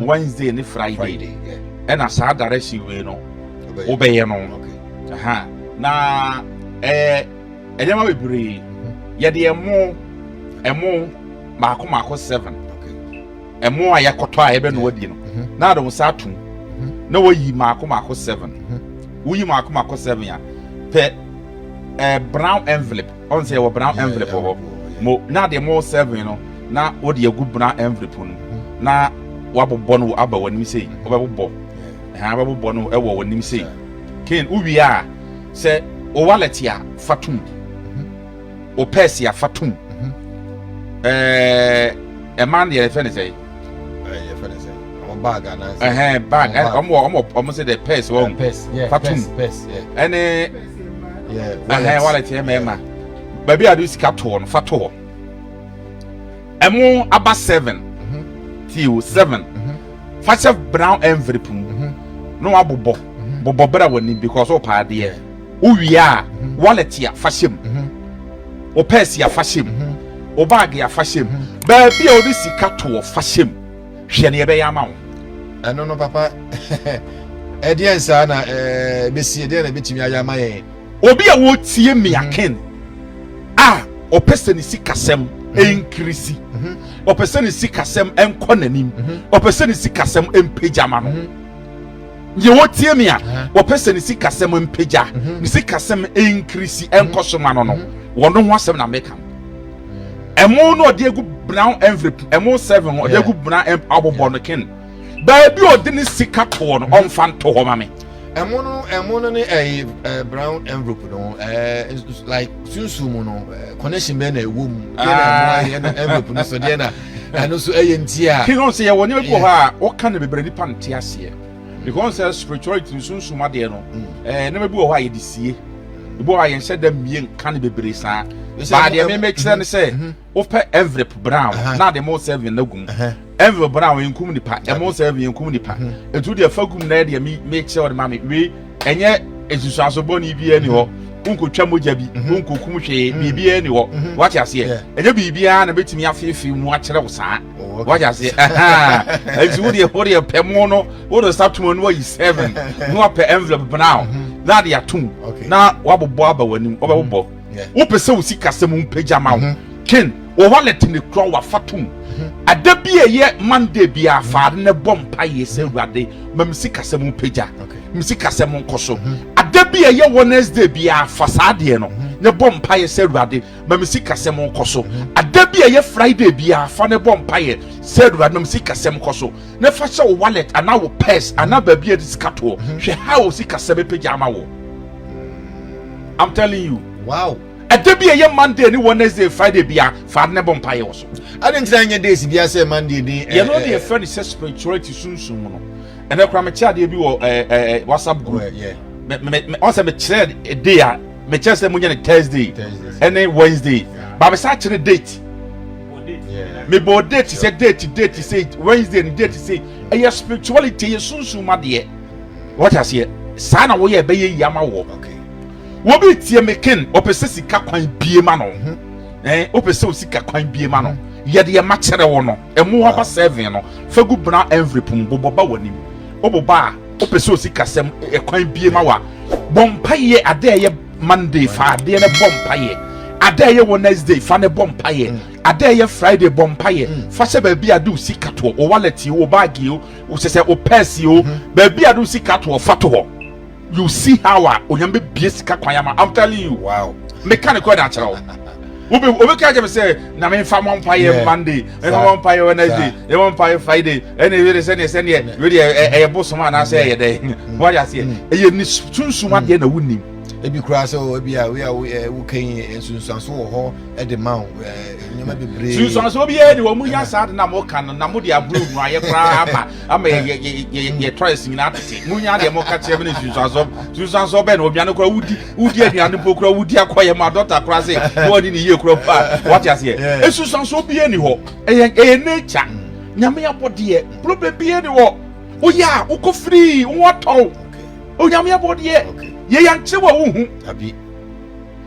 Wednesday ne Friday ɛna saa direction wei no wobɛyɛ no na ɛyɛ nneɛma bebree yɛde ɛmo ɛmo mako mako seven ɛmo a yɛkɔtɔ a yɛbɛnoa di no na ade nsa atom na wɔyi mako mako seven woyi mako mako seven a pɛ ɛɛ brown envelope Ɔn sɛ yɛwɔ brown envelope wɔ hɔ mo na deɛ mo serving no na wode agu brown envelope no na wabobɔ no aba w'anim sei wobɛbobɔ ɛhan wobɛbobɔ no ɛwɔ w'anim sei ken wowie a sɛ wo wallet a fa tom wo purse a fa tom ɛɛ ɛma no deɛ yɛfɛ ne sɛ yɛfɛ ne sɛ ɔmo bag anaasɛ ɛhɛn bag ɔmo ɔmo ɔmo sɛ dɛ purse wɔn fa tom ɛne yɛ wallet yɛ mɛma baabi a de sika toɔ no fa to hɔ ɛmo aba seven mhm. tii o seven mhm. fa hyɛ brown envelope mu mhm. na wabobɔ bobɔ bra w'ani because wopaa deɛ wowie a wallet a fa hyɛ mu wo pɛɛsi a fa hyɛ mu wo baage a fa hyɛ mu baabi a wode sika toɔ fa hyɛ mu Hwɛ nea ɛbɛyɛ ama wo. Ɛno no, papa, ɛdeɛn saa na ɛbɛsi? Ɛdeɛn na ɛbɛtumi ayɛ ama yɛn? Obi a ɔretie Mia mhm. Ken a ɔpɛ sɛ ne sikasɛm mhm. nkirisi, mhm. ɔpɛ sɛ ne sikasɛm nkɔ n'anim, ɔpɛ sɛ ne sikasɛm mpagya ma no. Deɛ ɔretie me a, ɔpɛ sɛ ne sikasɛm mpagya, ne sikasɛm nkirisi nkɔ so ma no no, wɔn ho asɛm na meka. ɛmo no ɔde egu brown envelope ɛmo seven ɔde egu brown abobɔ no ken baabi a ɔde ne sika toɔ no ɔnfa nto hɔ ma me. ɛmo no ɛmo no ne ɛyɛ ɛɛ brown envelope no ɛɛ like sunsun mu no connection bɛyɛ na ɛwɔ mu deɛ na ɛmo ayɛ na envelope no so deɛ na ɛno nso ɛyɛ nti a. kí wọn sɛ yɛ wɔ nneɛma bi wɔ hɔ a wɔka no bebree nipa nte aseɛ. Because sɛ spirituality no sunsum adeɛ no, ɛɛ nneɛma bi wɔ hɔ a yɛde sie, ebi wɔ hɔ a yɛnhyɛ da mmie nka no bebree saa. Baa deɛ meme kyerɛ no sɛ, mhm. wopɛ envelope brown na ade mo serving no gum. Envelope brown yɛnkum nipa, ɛmo serving yɛnkum nipa. Etu deɛ fa gum na yɛ deɛ me kyerɛ ɔde ma me wei ɛnyɛ nsusuaso bɔne biara ni hɔ. wonkotwa mogya bi mhm. wonkokum hwee mhm. biribiaa ni hɔ mhm. wate aseɛ ɛnyɛ biribiaa na bɛtumi afeefee mu akyerɛ wo saa wagye aseɛ ɛnti wodeɛ wodeɛ pɛ mo no wode nsa tom no wayi seven na wapɛ envelope brown mm-hmm. na ade atom na wabobɔ aba w'anim wobɛbobɔ mm-hmm. wopɛ sɛ wo sikasɛm mpagya ma wo mm-hmm. ken wo wallet ne kura wafa tom ada bi a ɛyɛ monday bi a faade ne bɔ mpaeɛ sɛ awurade ma me sikasɛm mpagya me sikasɛm nkɔ so ada bi a ɛyɛ wednesday bi a fa saa deɛ no ne bɔ mpaeɛ sɛ awurade ma me sikasɛm nkɔ so ada bi a ɛyɛ friday biara fa ne bɔ mpaeɛ sɛ awurade ma me sikasɛm nkɔ so na fa hyɛ wo wallet anaa wo purse anaa baabi a de sika toɔ hwɛ ha wo sikasɛm bɛpagya ama wo i'm telling you wow ɛda bi a ɛyɛ monday ne wednesday friday biara fa ne bɔ mpaeɛ wɔ so ade ntina nyɛ days biara sɛ monday ne yɛno eh, deɛ eh, ɛfrɛ ne sɛ spirituality sunsum mu no ɛnɛ kora mekyɛ adeɛ bi wɔ eh, whatsapp group ɔsɛ mekyerɛ day a mekyɛ sɛ monyɛ no thursday ɛne wednesday ba mesa kyerɛ date mebɔɔ date sɛ date date sɛ wednesday no date sɛ ɛyɛ spirituality ɛyɛ sunsum ma deɛ wɔte aseɛ saa na woyɛ ɛbɛyɛ yi ama wɔ wobi tie me ken ɔpɛ sɛ sika kwan bie ma no mhm. ɛn wopɛ sɛ osika kwan bie ma no yɛde ɛma kyerɛ wo no ɛmo hɔ ba seven no fagu bena envelope mu bobɔ ba w'anim woboba a Wopɛ sɛ osikasɛm ɛkwan bie ma wa bɔ mpaeɛ adeɛ ɛyɛ Monday fa adeɛ no bɔ mpaeɛ adeɛ ɛyɛ Wednesday fa no bɔ mpaeɛ mm. adeɛ ɛyɛ Friday bɔ mpaeɛ mm. fa hyɛ baabi ade osika toɔ o wallet o baagi o sɛ sɛ o pɛɛsi o mm. baabi ade osika toɔ fa toɔ you see how a onyame bie sika kwan ama I'm telling you wow meka ne kɔ ɛda akyerɛ wo obi obi ka kyerɛ me sɛ na memfa mɔ mpaeɛ monday memfa mɔ mpaeɛ wednesday ɛmɔ mpaeɛ friday ɛne ɛwede sɛneɛ sɛneɛ wede ɛyɛ bosom anaasɛ ɛyɛ dɛn wade aseɛ ɛyɛ ne sunsum adeɛ na wonim ebi koraa sɛ ebi a wei a wokɛyi nsunsuanso wɔ hɔ de ma wo nneɛma bebree sunsuanso biara ni wɔn mu nya saa de na mo ka no na mo de aburo nu ayɛ koraa ama ama yɛ yɛ yɛ yɛ tɔyɛ si nyinaa tete mo nya deɛ mo ka kyerɛ mi ne sunsuanso sunsuanso bɛn na obiara no koraa wodi wodi aduane mpo kura wodi akɔ yɛ ma dɔkta kura se na wani ne yie kura mpo a wate aseɛ esusanso bie ni hɔ ɛyɛ ɛyɛ nature nyame abɔdeɛ problem bie ni hɔ woyɛ a wokɔ firii wo atɔw onyame abɔdeɛ yɛ yankyerɛ wa wohu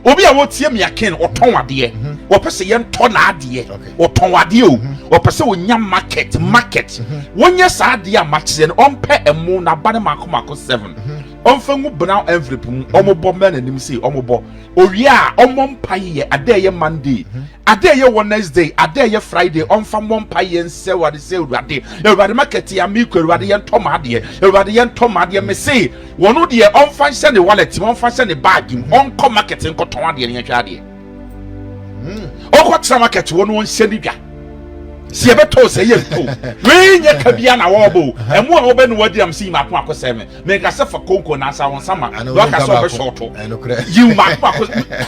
obi a wɔtie mmea ken ɔtɔn adeɛ mhm. wɔpɛ sɛ yɛntɔ n'adeɛ ɔtɔn adeɛ o mhm. wɔpɛ sɛ wɔnya market market mhm. wɔnyɛ saa adeɛ a makyerɛ no ɔmpɛ ɛmo n'aba ne mako mako seven. Ɔmfa ngu brown envelope mu, ɔmobɔ mmra n'anim sei, ɔmobɔ. Owie a, ɔmmɔ mpaeɛ yɛ ada a ɛyɛ Monday, ada a ɛyɛ Wednesday, ada a ɛyɛ Friday, ɔmfa mmɔ mpaeɛ nsɛ Awurade sɛ, Awurade, Awurade makati a mekɔ, Awurade yɛntɔ m'adeɛ, Awurade yɛntɔ m'adeɛ. Mese, wɔno deɛ ɔmfa nhyɛ ne wallet mu, ɔmfa nhyɛ ne bag mu, ɔnkɔ market nkɔtɔn adeɛ na yɛnhwɛ adeɛ. ɔkɔ tena market hɔ no ɔnhyɛ ne dwa si ɛbɛtɔ sɛ yɛ nto wei nyɛ ka bia na wɔbɔ ɛmu a wɔbɛ no wadi am si mako ako sɛ me menka sɛ fa konko na asa wɔn sama na ɔka sɛ ɔbɛ shɔɔto yiw mako ako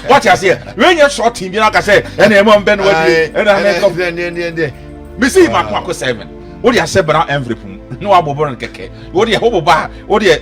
wɔte aseɛ wei nyɛ shɔɔtin bi na ɔka sɛ ɛna ɛmu a wɔbɛ no wadi ɛna ɛna ɛkɔ mesi mako ako sɛ me wode ahyɛ bra envelope mu na wabobɔ no kɛkɛ wode ɛhɔ bobɔ a wode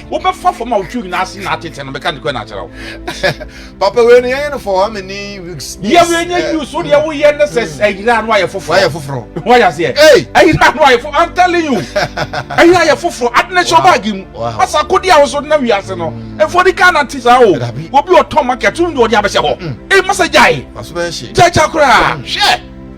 wobɛfa fam a wotwi nyinaa ase na atete no meka nokorɛ na akyerɛ wo papa wei no yɛyɛ no for how many weeks yɛ wei nyɛ mm. use wo deɛ woyɛ ne sɛ mm. ayira no ayɛ foforɔ ayɛ foforɔ woayɛ aseɛ ayira no ayɛ foforɔ i'm telling you ayira ayɛ foforɔ ade ne hyɛ ɔbaage mu asa akodi a woso na wiase no mm. ɛfoɔ de kaa nante saa o obi ɔtɔn market wo deɛ ɔde abɛhyɛ hɔ ee masa gyae gyae kya koraa hwɛ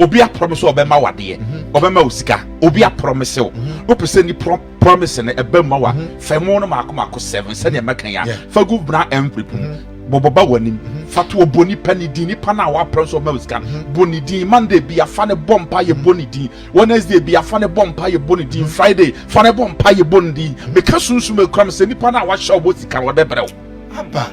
Obi aprɔmese ɔbɛma wo adeɛ, mhm. ɔbɛma wo sika. Obi aprɔmese wo, mhm. wopɛ sɛ ni prɔmese no ɛbɛ ma wa. Mhm. Fa mu no maako maako seven sɛdeɛ mɛka ya. Fa gu bena envelope mu. Bɔbɔ ba w'anim. Fa to ɔbɔ nipa ne din nipa no a waprɛ nso ɔma wo sika. Bɔ ne din Monday bi afa ne bɔ mpa yɛ bɔ ne din. Wednesday bi afa ne bɔ mpa yɛ bɔ ne din. Friday fa ne bɔ mpa yɛ bɔ ne din. Meka sunsum ekura me sɛ nipa no a wahyɛ ɔbɔ sika no ɔbɛbrɛ wo. Aba.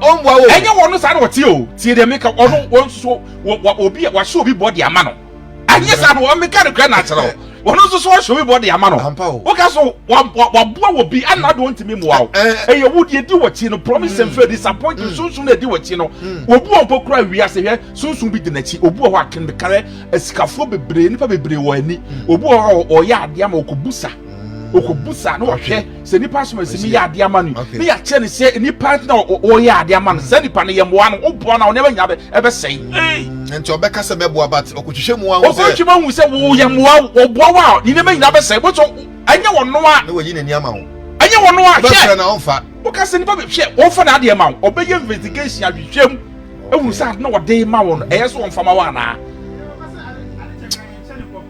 Ɔmboa wo. Ɛnyɛ wɔn no saa na wɔte o. Tie deɛ meka, ɔno wɔn nso so wɔ wɔ obi a wahyɛ obi bɔ de ama no. Ɛnyɛ saa na wɔn meka no kura na akyerɛ o. Wɔn nso so wɔhyɛ obi bɔ de ama no. Ampa o. Woka so wa wa waboa wɔ bi ɛna de ɔntumi mua o. Ɛyɛ wo deɛ edi wɔ akyi no promise and fail disappoint mm. sunsun na edi wɔ akyi no. Mm. Obi wɔn mpo kura wia se hwɛ sunsun bi di n'akyi. Obi wɔ hɔ akan bi kare asikafoɔ bebree nipa bebree wɔ ani. Mm. Obi wɔ hɔ ɔyɛ adeɛ ama ɔkɔ busa ɔkɔ busa na ɔhwɛ. sɛ nipa som asi mi yɛ adeɛ ama no ne yɛakyerɛ no sɛ nipa na ɔyɛ adeɛ ama no saa nipa no yɛ mmoa no woboa no a ɔnɛma nya ɛbɛsɛe mm, nti ɔbɛka sɛ mɛboa but ɔkɔtwitwa mu ahu sɛ ɔkɔtwitwa mu ahu sɛ woyɛ mm. mmoa ɔboa wo a ne nneɛma nyina bɛsɛe bɛtɔ ɛnyɛ wɔ no a na wayi n'ani ama wo ɛnyɛ wɔ no a hwɛ na ɔmfa woka sɛ nipa hwɛ ɔmfa na adeɛ ma wo ɔbɛyɛ investigation ahwehwɛ mu ɛhu sɛ ade na ɔde ma wo no ɛyɛ sɛ ɔmfa ma wo anaa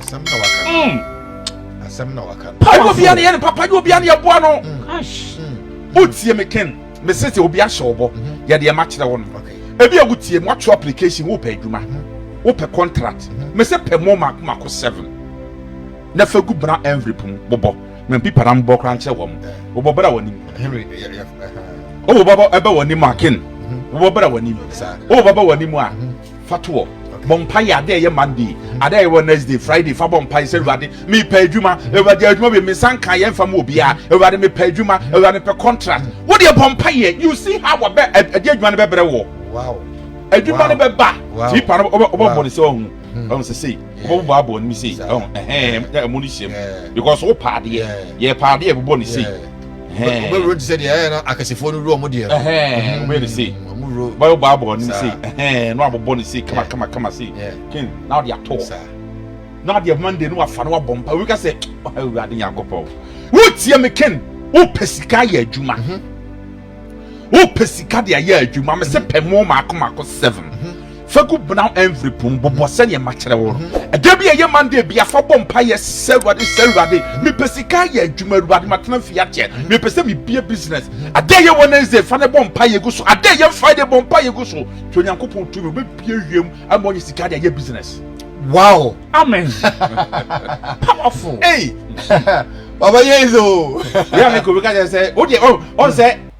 asɛm na waka mm. asɛm na waka padi obiara ne yɛ ne papa de obiara ne yɛ boa no o tie me ken me se sɛ obi ahyɛ ɔbɔ mhm. yɛde ɛma kyerɛ wɔn ebi a wotie mu ato application wo pɛ adwuma mhm. wo pɛ contract mhm. me se pɛ mu mako mako seven na fɛ gu bra envelope mu bɔbɔ na pipa na mbɔ kora nkyerɛ wɔn bɔbɔ bra wɔn anim o bɔbɔ ɛbɛ wɔn anim aken bɔbɔ bra wɔn anim o bɔbɔ wɔn anim a. Fa to hɔ. Bɔ mpaeɛ adeɛ a ɛyɛ Monday, adeɛ a ɛyɛ Wednesday, Friday. Fa bɔ mpaeɛ sɛ Awurade mepɛ adwuma. Awurade adwuma bi me nsa nka yɛ nfa mu obiara. Awurade mepɛ adwuma. Awurade mepɛ contract. Wo deɛ bɔ mpaeɛ. You see how wɔbɛ ɛde adwuma no bɛbrɛ wɔ. Wow. Adwuma no bɛba. Wow. Tipa no wɔbɛ wɔbɛ bɔ ne sɛ ɔhu. Ɔhu sɛ sei. Wɔbɛ bɔ abɔ ne mi sei. Ɔhu ɛhɛn ɛmu ne hyɛm. Because wo paadeɛ. Yɛ paadeɛ bɔ ne sei. wobɛwuro te sɛ deɛ ɛyɛ no akɛsefoɔ no wuro ɔmo deɛ no mhm. wobɛyɛ no sei bɛyɛ bɔ abɔ no sei na wabobɔ no sei kama kama kama sei ken na wode ato hɔ na adeɛ monday no wafa no wabɔ mpa wika sɛ awurade nyankopɔn wotie me ken wopɛ sika ayɛ adwuma mhm. wopɛ sika de ayɛ adwuma mesɛ mhm. pɛ mo maako maako seven Fa gu brown envelope mu bobɔ sɛdeɛ makyerɛ wo no. Ɛda bi a ɛyɛ Monday bia fa bɔ mpaeɛ sɛ Awurade sɛ Awurade mepɛ sika ayɛ adwuma Awurade matena fie akyɛ mepɛ sɛ mebue business. Ada ɛyɛ Wednesday fa no bɔ mpaeɛ gu so. Ada ɛyɛ Friday bɔ mpaeɛ gu so. Hwɛ Onyankopɔn tumi ɔbɛbue wiem ama wanya sika de ayɛ business. Wow. Amen. Powerful. Ei. Papa yɛ izo. Wia ne ko bɛka kyɛ sɛ wo deɛ ɔn sɛ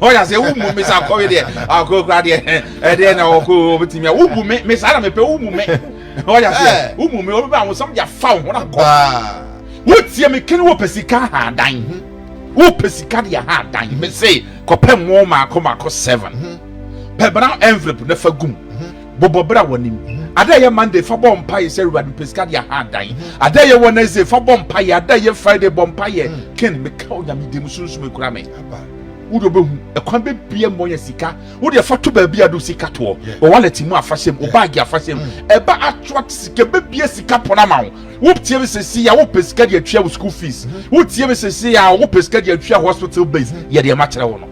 ɔyɛ sɛ wobu me sa kɔwe deɛ akɔkora deɛ ɛdeɛ na ɔkɔ ɔbɛtumi a wobu me me saa na mepɛ wobu me ɔyɛ sɛ wobu me ɔbɛbɛ awosam de afa wo ho na kɔ wotie me kene wopɛ sika ha dan mhm. wopɛ sika deɛ ha dan me se kɔpɛ mo maako maako seven mhm. pɛ bra envelope na fa gum mhm. Bobɔ bra w'anim. Ada a ɛyɛ Monday fa bɔ mpaeɛ sɛ Awurade mepɛ sika de ahadan. Ada a ɛyɛ Wednesday fa bɔ mpaeɛ. Ada a ɛyɛ Friday bɔ mpaeɛ. Ken meka wo Nyame din mu sunsum ekura me. Wode wobɛhu ɛkwan bɛbia mu ɔnya sika. Wodeɛ fa to baabi a de wo sika toɔ. Wɔ wallet mu a fa hyɛ mu. Wo bag a fa hyɛ mu. Ɛba atwat sika ɛbɛbia sika pon ama wo. Wotie me sesei a wopɛ sika de atua wo school fees. Wotie me sesei a wopɛ sika de atua hospital bills. Yɛ deɛ makyerɛ wo no.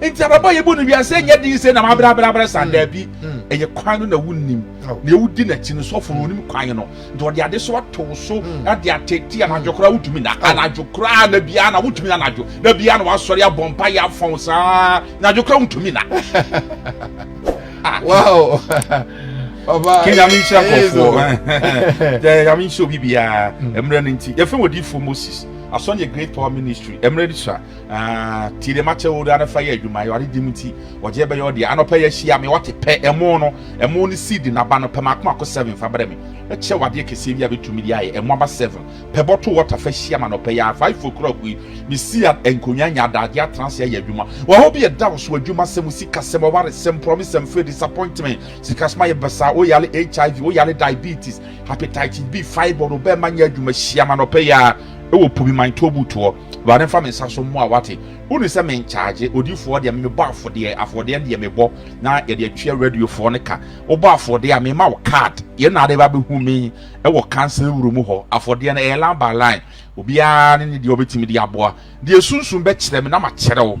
Nti abrabɔ a yɛbɔ no wiase sɛ nyɛ den sɛ na mabrɛabrɛabrɛ saa, daabi. Ɛyɛ kwan no na wonnim. Nea wodi n'akyi no, sɔfo no, onim kwan no, nti ɔde ade so atow so de atete anadwo koraa wotumi na, anadwo koraa na biara na wotumi na anadwo, na biara na wasɔre abɔ mpaeɛ afɔn saa, anadwo koraa wontumi na. Wow! Papa, Ke nyame nhyira nkɔfoɔ. Yɛ nyame nhyira obi biara. Mmerɛ no nti, yɛfrɛ wɔ diifoɔ Moses. Asɔn yɛ Great Power Ministry. Mmerɛ no sua. Tie deɛ makyɛ wo na fa yɛ adwuma awurade dim nti ɔgye bɛyɛ ɔdeɛ anɔpɛ yɛahyia me wate pɛ ɛmo no ɛmo ne seed naba no pɛ maako maako seven fa brɛ me ɛkyɛ wadeɛ kɛseɛ bi a bɛtumi de ayɛ ɛmo aba seven pɛ bɔto wɔta fa hyia ma nɔpɛ yɛ five fo kura kui mesi a nkonnwa nya adagye atena ase ayɛ adwuma wɔhɔ bi ɛda wo so adwuma sɛm sika sɛm ɔware sɛm promise and fail disappointment sika soma yɛ bɛsa woyale hiv woyale diabetes hepatitis b fibroid wobɛma nyɛ adwuma hyia ma nɔpɛ yɛ ɛwɔ pobi man tobutoɔ Awurade mfa me nsa so mmoa wate. Woni sɛ me nkyagye odifoɔ deɛ me me bɔ afodeɛ afodeɛ no deɛ me bɔ na yɛde atua radiofoɔ no ka wo bɔ afodeɛ a me ma wo card yɛn na ade ba bɛ hu me wɔ council room hɔ afodeɛ no ɛyɛ line by line obiara ne ne deɛ ɔbɛtumi de aboa deɛ sunsun bɛkyerɛ me na ma kyerɛ wo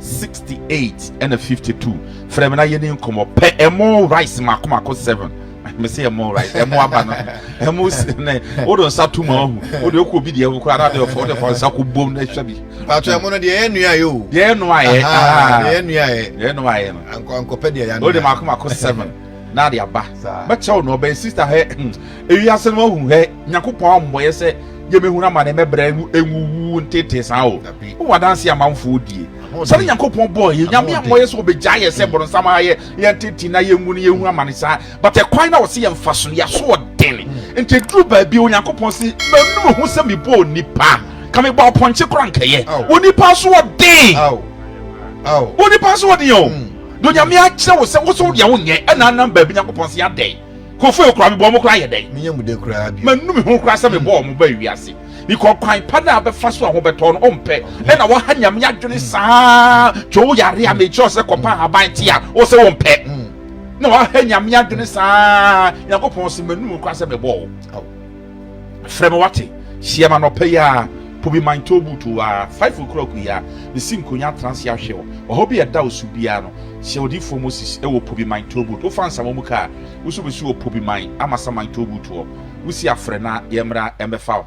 68 ɛna 52 frɛ me na yɛne nkɔmmɔ pɛ ɛmo rice mako mako 7 mese ɛmo rice ɛmo aba no ɛmo ne wode nsa to ma ahu wode wokɔ obi deɛ wokɔ ara de ɔfa wode fa nsa kɔ bom na ɛhwɛ bi patro ɛmo no deɛ ɛyɛ nnuayɛ o deɛ ɛyɛ nnuayɛ ɛyɛ nnuayɛ ɛyɛ nnuayɛ no ankɔpɛ deɛ ɛyɛ wode mako mako 7 na ade aba bɛkyɛw no ɔbɛn sister hɛ hmm. ewi ase no ahu hɛ Nyankopɔn ammɔyɛ sɛ yɛmɛhunu amane mɛbrɛ no ɛnwuwu ntetee saa o wowɔ adanseɛ amanfoɔ die sɛne Nyankopɔn bɔɔ yɛ Nyame ammɔyɛ sɛ ɔbɛgyae yɛ sɛ boronsam ha yɛ yɛ ntetee na yɛnwu no yɛhunu amane saa but ɛkwan na ɔse yɛmfaso no yɛasoɔden nti ɛduru baabi Onyankopɔn se manu meho sɛ mebɔɔ nnipa ka mebɔɔ pɔnkye koraa nka yɛ onipa asoɔden onipa asoɔden o deɛ Onyame akyerɛ wo sɛ wo so wodeɛ wonyɛ ɛna nam baabi Nyankopɔn se adɛn. kofue koraa mebɔ wɔn koraa yɛ dɛn menyɛ mu dɛ koraa bi manu me ho koraa sɛ mebɔ wɔn hmm. ba wiase because kwan pa no a bɛfa so a ho bɛtɔ no ɔmpɛ ɛna waha nyame adwene saa twɛ wo yare a mekyerɛ sɛ kɔpa ahaban te a wo sɛ wompɛ na waha nyame adwene saa nyankopɔn se manu mu koraa sɛ mebɔ wo Frɛ me wate? Hyia me anɔpa yi ara, po bi man towboat o aa, five o'clock yi ara, mesi nkonya atena ase ahwɛ wo, ɔhaw bi a ɛda wo so biara no, hyɛ odiyifoɔ Moses wɔ po bi man towboat, wofa nsama mu kaa, wo nso bɛsi wɔ po bi man amasa man towboat hɔ, wosi afrɛ na yɛmmra mmɛfa wo.